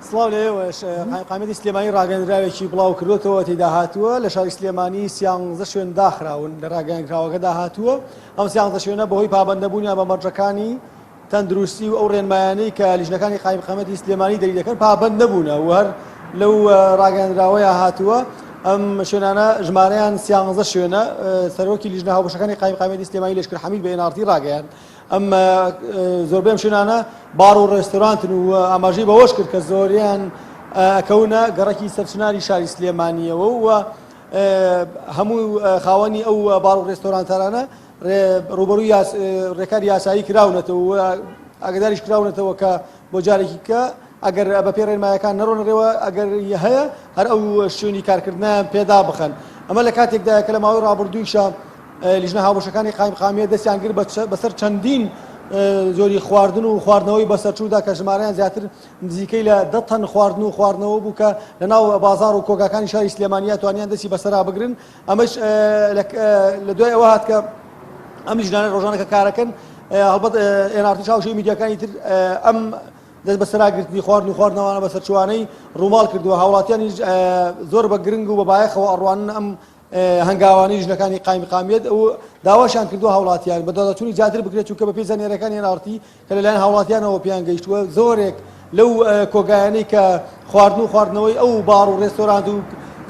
سڵاو لە ئێوەش قایمقامیەتی سلێمانی ڕاگەندراوێکی بڵاو کردوەوە تێدا هاتووە لە شاری سلێمانی سیانزە شوێن داخراون لە ڕاگەنکراوەکەدا هاتووە ئەم سیانزە شوێنە بەهۆی پابندەبوونیان بە مەرجەکانی تەندروستی و ئەو ڕێنمایانەی کە لیژنەکانی قایمقامەتی سلێمانی دەری دەکەن پابند نەبوونە و هەر لەو ڕاگەندراوەیە هاتووە ئەم شوێنانە ژمارەیان سیانزە شوێنە سەرۆکی لیژنە هاوبەشەکانی قایمقامەتی سلێمانی لەشکر حەمید بە ئێنارتی ڕاگەیان ئەم زۆربەی ئەم شوێنانە باڕ و ڕێستۆرانتن و ئاماژەی بەوەش کرد کە زۆریان ئەکەونە گەڕەکی سەرچناری شاری سلێمانیەوە و هەموو خاوەنی ئەو باڕ و ڕێستۆرانتارانە ڕوبەروی ڕێکار یاسایی کراونەتەوە ئاگداریش کراونەتەوە کە بۆ جارێکی کە ئەگەر بە پێی ڕێنمایەکان نەڕۆنە ڕێوە ئەگەر هەیە هەر ئەو شوێنی کارکردنیان پێدا بخەن ئەمە لە کاتێکدایە کە لە ماوەی ڕابردوویشە لیژنە هاوبەشەکانی قایمقامیە دەستیان گر بەسەر چەندین زۆری خواردن و خواردنەوەی بەسەرچوودا کە ژمارەیان زیاتر نزیکەی لە دە تەن خواردن و خواردنەوە بوو کە لە ناو بازار و کۆگاکانی شاری سلێمانیا توانیان دەستی بەسەرا بگرن ئەمەش لە دوای ئەوە هات کە ئەم لیژنانە ڕۆژانە کە کارەکەن هەڵبەت ئێنارتی چاوشی میدیاکانی تر ئەم دەست بەسەراگرتنی خواردن و خواردنەوانە بە سەرچوانەی ڕووماڵ کردووە هاوڵاتیانی زۆر بە گرنگ و بە بایەخەوە ئەڕوانن ئەم هەنگاوانی ژنەکانی قایمقامیت ئەو داواشان کردو هاوڵاتیان بە دادچوونی زیاتر بکرێت چونکە بە پێی زانیاریەکانی نارتی کە لەلایەن هاوڵاتیانەوە پێیان گەیشتووە زۆرێک لەو کۆگایانەی کە خواردن و خواردنەوەی ئەو باڕ و ڕێستۆرانت و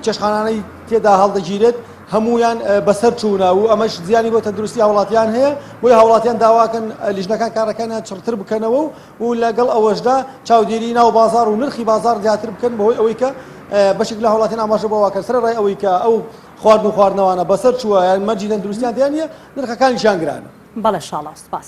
چێشخانانەی تێدا هەڵدەگیرێت هەمویان بەسەر چوونا و ئەمەش زیانی بۆ تەندروستی هاوڵاتیان هەیە بۆی هاوڵاتیان داواکەن لیژنەکان کارەکانیان چڕتر بکەنەوە و لەگەڵ ئەوەشدا چاودێری ناو بازار و نرخی بازار زیاتر بکەن بەهۆی ئەوەی کە بەشێک لە هاوڵاتیان ئاماژە بەوەکە سەر ڕای ئەوەی کە ئەو خواردن و خواردنەوانە بەسەر چووە یان مەرجی تەندروستیان دیان نیە نرخەکانیشان گرانە بەڵێ شاڵاو سپاس.